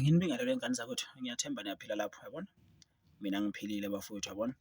Nginibingelele wey'ngane zakwethu, ngiyathemba niyaphila lapho, yabona? Mina ngiphilile bafowethu, yabona?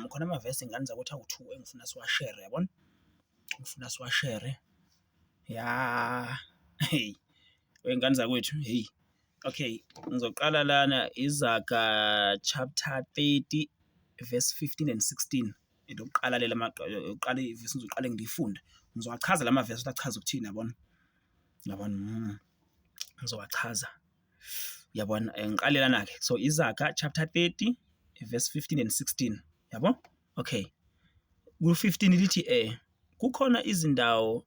Khona amavesi ngane zakwethu awu-two engifuna siwashere, yabona? Ngifuna siwashere, ya hheyi, wey'ngane zakwethu, hheyi, okay, ngizoqala lana Izaga chapter thirty verse fifteen and sixteen, elokuqala lela eyokuqala ivesi ngizoqale ngilifunde, ngizowachaza la mavesi ukuthi achaza ukuthini, yabona? Yabona? Mm. Ngizowachaza. Yabona? Eh, ngiqale lana-ke. So, Izaga chapter 30 verse 15 and 16. Yabo? Okay. Ku-15 lithi eh kukhona izindawo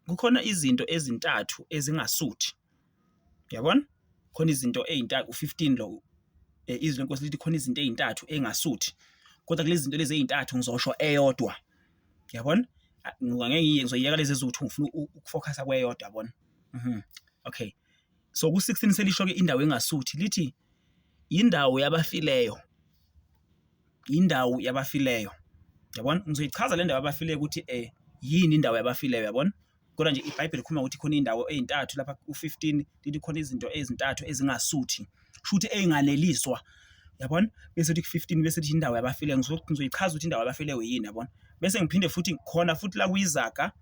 kukhona izinto ezintathu ezingasuthi. Yabona? Khona izinto ezintathu u-15 lo eh, izwi lenkosi lithi khona izinto ezintathu engasuthi. Kodwa kulezi zinto lezi ezintathu ngizosho eyodwa. Uyabona? Ngoba ngeke ngiye ngizoyeka lezi ezithu ngifuna ukufocusa kweyodwa yabona. Mhm. Okay. So ku 16 selisho ke indawo engasuthi lithi indawo yabafileyo. Indawo yabafileyo. Yabona? Ngizoyichaza le ndawo yabafileyo ukuthi eh yini indawo yabafileyo yabona? Kodwa nje iBhayibheli likhuluma ukuthi khona indawo ezintathu lapha u15 lithi khona izinto ezintathu ezingasuthi. Shuthi ezinganeliswa. Yabona? Bese uthi ku15 bese uthi indawo yabafile ngizoyichaza ukuthi indawo yabafile yini yabona? Bese ngiphinde futhi khona futhi la kuyizaga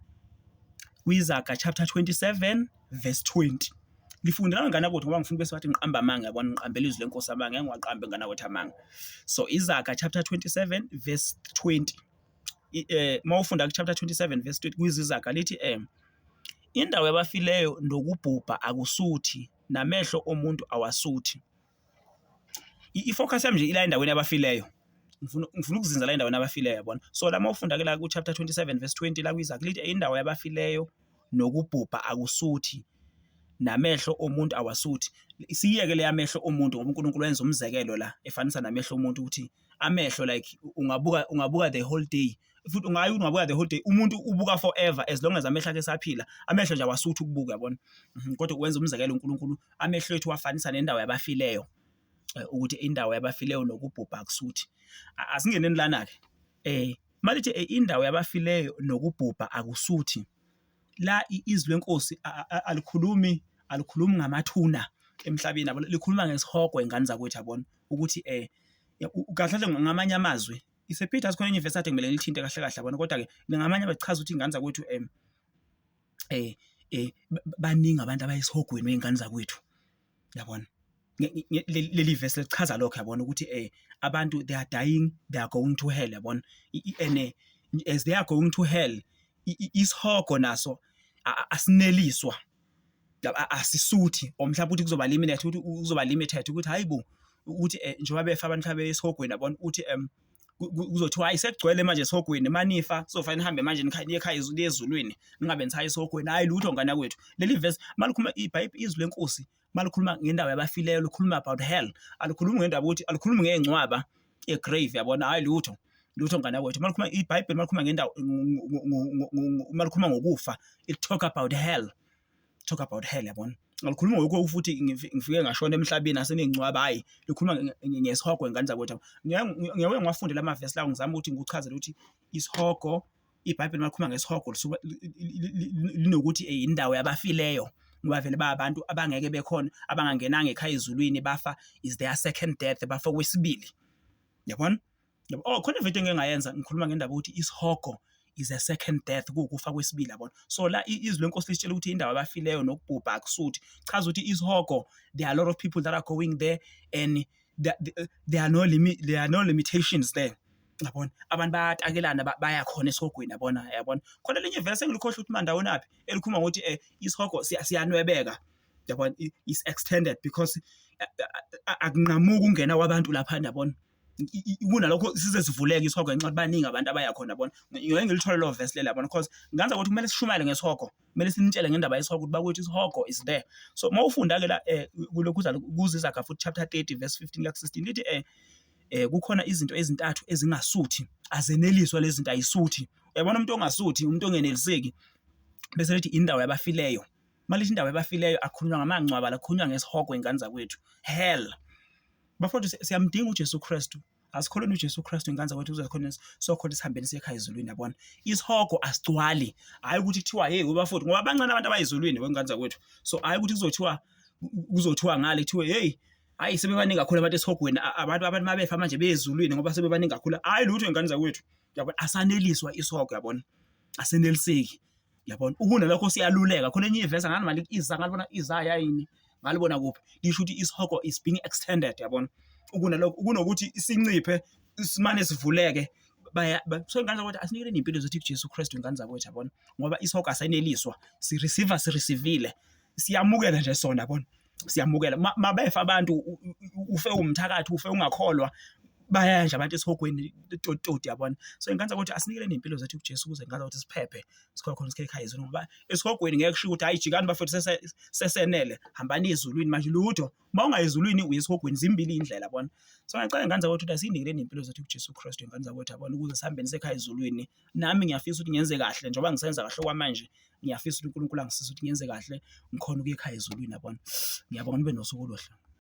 kuyizaga chapter 27 verse 20. Ngifundela ngane kodwa ngoba ngifuna bese wathi ngiqamba amanga yabona ngiqambela izwi lenkosi amanga ngeke ngiwaqambe ngana kodwa amanga. So izaga chapter 27 verse 20. eh mawufunda ku chapter 27 verse 20 kwizizaga lithi eh indawo yabafileyo nokubhubha akusuthi namehlo omuntu awasuthi ifocus yami nje ila endaweni yabafileyo ngifuna ngifuna ukuzinza la endaweni yabafileyo yabona so la mawufunda ke la ku chapter 27 verse 20 la kwizaga lithi indawo yabafileyo nokubhubha akusuthi namehlo omuntu awasuthi siyeke leyamehlo omuntu ngoba uNkulunkulu wenza umzekelo la efanisa namehlo omuntu ukuthi amehlo like ungabuka ungabuka the whole day futhi ungayi ungabuka the whole day umuntu ubuka forever as long as amehlo akhe esaphila amehlo nje awasuthi ukubuka yabona mhm, kodwa wenza umzekelo uNkulunkulu amehlo ethu wafanisa nendawo yabafileyo eh, ukuthi indawo yabafileyo nokubhubha akusuthi asingeneni lana ke eh malithi eh, indawo yabafileyo nokubhubha akusuthi la izwi lenkosi alikhulumi alikhulumi ngamathuna emhlabeni yabo likhuluma ngesihogo ingane zakwethu yabona ukuthi eh kahle kahle ngamanye amazwi isephitha sikhona enye ivesi athi kumele lithinte kahle kahle yabona kodwa ke ngamanye abachaza ukuthi ingane zakwethu em eh eh baningi abantu abayisihogweni wey'ngane zakwethu. yabona leli vesi lichaza lokho yabona ukuthi eh abantu they are dying they are going to hell yabona and eh, as they are going to hell isihogo naso asineliswa asisuthi or mhlawumbe ukuthi kuzoba limited ukuthi uzoba limited ukuthi hayibo ukuthi eh, njengoba befa abantu abesihogweni yabona ukuthi um kuzothiwa ayisegcwele manje esihogweni manifa sofa nihambe manje nikhanye ekhaya izulu ezulwini ningabe nithaya esihogweni hayi lutho ngane kwethu leli verse malikhuluma ibhayibheli izwi lenkosi malikhuluma ngendaba yabafileyo likhuluma about hell alikhulumi ngendaba ukuthi alikhulumi ngengcwaba egrave yabona hayi lutho lutho ngane kwethu malikhuluma ibhayibheli malikhuluma ngendawo malikhuluma ngokufa it talk about hell talk about hell yabona ngalikhuluma ngokho futhi ngifike ngashona emhlabeni asenengcwaba hayi likhuluma ngesihogo ingane zakwethu ngeke ngiwafunde la mavesi lawo ngizama ukuthi ngikuchazele ukuthi isihogo ibhayibheli malikhuluma ngesihogo lisuke linokuthi indawo yabafileyo ngoba vele ba abantu abangeke bekhona abangangenanga ekhaya ezulwini bafa is their second death bafa kwesibili yabona Yabo? Oh, khona ividiyo engike ngayenza ngikhuluma ngendaba yokuthi isihogo is a second death, kuwukufa kwesibili yabona. So la i- izwi lenkosi lisitshela ukuthi indawo abafileyo nokubhubha akusuthi. Chaza ukuthi isihogo there are a lot of people that are going there and there, there- there are no limi, there are no limitations there. Yabona? Abantu bayatakelana ba- baya khona esihogweni yabona yabona. Khona elinye verse engilikhohle ukuthi mandawoni aphi elikhuluma ngokuthi eh isihogo siya- siyanwebeka. Yabona? I- Is extended because eh, eh, akunqamuki ungena kwabantu lapha yabona. kunalokho size sivuleke isihogo ngenxa ukuthi baningi abantu abaya khona bona ngeke ngilithole lo verse lela bona because nganza ukuthi kumele sishumayele ngesihogo kumele sinitshele ngendaba yesihogo ukuthi bakwethu isihogo is there so uma ufunda ke la eh, kulokhu uzalo kuziza ka futhi chapter 30 verse 15 la 16 lithi eh eh kukhona izinto ezintathu ezingasuthi azeneliswa lezi zinto ayisuthi uyabona umuntu ongasuthi umuntu ongeneliseki bese lithi indawo yabafileyo malithi indawo yabafileyo akhulunywa ngamangcwaba lakhulunywa ngesihogo ingane zakwethu hell bafowethu si- siyamdinga uJesu Kristu asikholeni uJesu Kristu ingane zakwethu uzokhona sokhona sihambeni sekhaya ezulwini yabona isihogo asigcwali hayi ukuthi kuthiwa hey ubafowethu ngoba bancane abantu abayizulwini wengane zakwethu so hayi ukuthi kuzothiwa kuzothiwa ngale kuthiwe hey hayi sebebaningi kakhulu abantu esihogweni a- abantu abantu mabefa manje bezulwini ngoba sebebaningi kakhulu hayi lutho ingane zakwethu yabona asaneliswa isihogo yabona aseneliseki yabona ukunalokho siyaluleka khona enye ivesa ngani mali iza ngalibona iza yayini ngalibona kuphi lisho ukuthi isihogo is being extended yabona ukunalokho kunokuthi isinciphe simane sivuleke baya so ingane zakwethu asinikele impilo zethu kuJesu Kristu ingane zakwethu yabona ngoba isihogo asayineliswa si receiver si receivile siyamukela nje sona yabona siyamukela mabefa abantu ufe umthakathi ufe ungakholwa bayaya nje abantu esihogweni tototi yabona so inkanza ukuthi asinikele nempilo zethu kuJesu ukuze inkanza ukuthi siphephe sikhona khona sikhele ekhaya izulu ngoba esihogweni ngeke kushiwo ukuthi hayi jikani bafethu sesenele hambani ezulwini manje lutho uma ungayezulwini uye esihogweni zimbili indlela yabona so ngiyacela inkanza ukuthi asinikele nempilo zethu kuJesu Kristu inkanza ukuthi yabona ukuze sihambeni sekhaya ezulwini nami ngiyafisa ukuthi ngenze kahle njengoba ngisenza kahle okwamanje ngiyafisa ukuthi uNkulunkulu angisize ukuthi ngenze kahle ngikhone ukuya ekhaya ezulwini yabona. Ngiyabonga nibe nosuku oluhle.